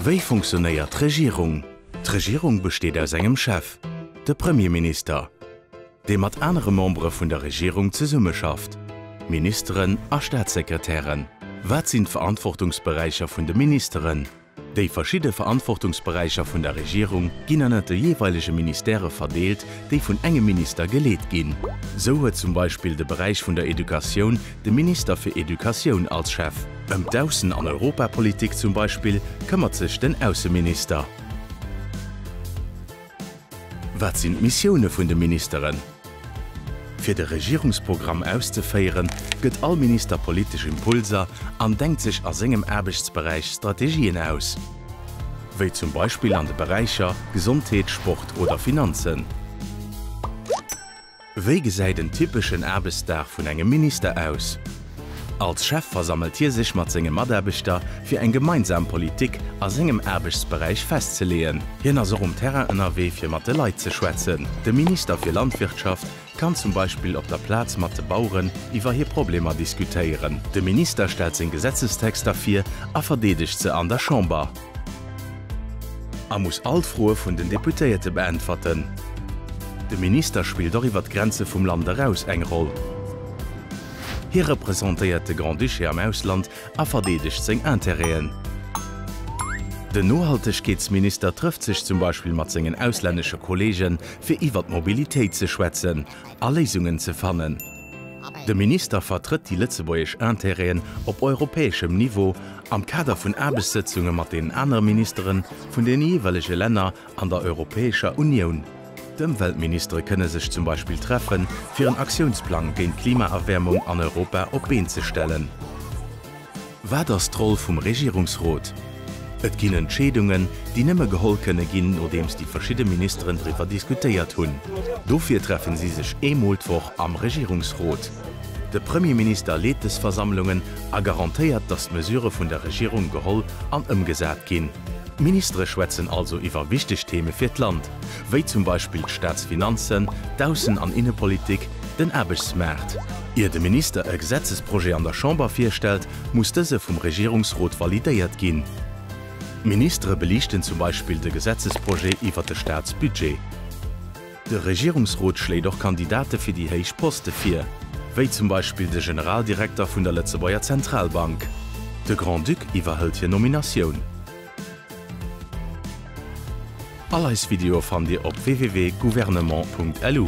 Wéi funktionéiert d'Regierung? D'Regierung besteet aus engem Chef, de Premierminister, dee mat anere Membere vun der Regierung zesummeschafft, Ministeren a Staatssekretären. Wat sinn d'Verantwortungsberäicher vun de Ministeren? Déi verschidde Verantwortungsberäicher vun der Regierung ginn ënnert de jeeweilege Ministèrë verdeelt, déi vun engem Minister geleet ginn. Sou huet zum Beispill de Beräich vun der Educatioun De Minister fir Educatioun als Chef. Ëm d'Aussen an Europapolitik zum Beispill këmmert sech den Ausseminister. Wat sinn d'Missioune vun de Ministeren? Fir de Regierungsprogramm auszeféieren, gëtt all Minister politesch Impulser an denkt sech a sengem Aarbechtsberäich Strategien aus. Wéi zum Beispill an de Beräicher Gesondheet, Sport oder Finanzen. Wéi gesäit en typeschen Aarbechtsdag vun engem Minister aus? Als Chef versammelt hie sech mat senge Mataarbechter, fir eng gemeinsam Politik a sengem Aarbechtsberäich festzeleeën. Hien ass och um Terrain ënnerwee, fir mat de Leit ze schwätzen. De Minister fir Landwirtschaft kann zum Beispill op der Plaz mat de Baueren iwwer hir Problemer diskutéieren. De Minister stellt seng Gesetzestexter vir a verdeedegt se an der Chamber. A muss all d'Froe vun den Deputéierte beäntwerten. De Minister spillt och iwwer d'Grenze vum Land eraus eng Roll. Hie representéiert de Grand-Duché am Ausland a verdeedegt seng Interêten. Den Nohaltegkeetsminister trëfft sech zum Beispill mat sengen auslännesche Kollegen, fir iwwer d'Mobilitéit ze schwätzen a Léisungen ze fannen. De Minister vertrëtt déi lëtzebuergesch Intérêten op europäeschem Niveau am Kader vun Aarbechtssëtzunge mat den anere Ministere vun de jeeweilege Länner an der Europäescher Unioun. D'Ëmweltministere kënne sech zum Beispill treffe fir en Aktiounsplang géint d'Klimaerwäermung an Europa op d'Been ze stellen. Wat ass d'Roll vum Regierungsrot? Et ginn Entscheedungen, déi nëmme geholl kënne ginn, nodeems déi verschidde Ministeren driwwer diskutéiert hunn. Dofir treffen si sech eemol d'Woch am Regierungsrot. De Premierminister leet des Versammlungen a garantéiert, datt d'Mesurë vun der Regierung geholl an ëmgesat ginn. D'Ministere schwätzen also iwwer wichteg Theme fir d'Land. wéi zum Beispill d'Staatsfinanzen, d'Aussen an Innepolitik, den Aarbechtsmaart. Ier de Minister e Gesetzesprojet an der Chamber virstellt, muss dëse vum Regierungsrot validéiert ginn. D'Ministere beliichten zum Beispill de Gesetzesprojet iwwert de Staatsbudget. De Regierungsrot schléit och Kandidate fir déi héich Poste vir, wéi zum Beispill de Generaldirekter vun der Lëtzebuerger Zentralbank. De Grand-Duc iwwerhëlt hir Nominatioun. All eis Videoe fannt Dir op www.gouvernement.lu.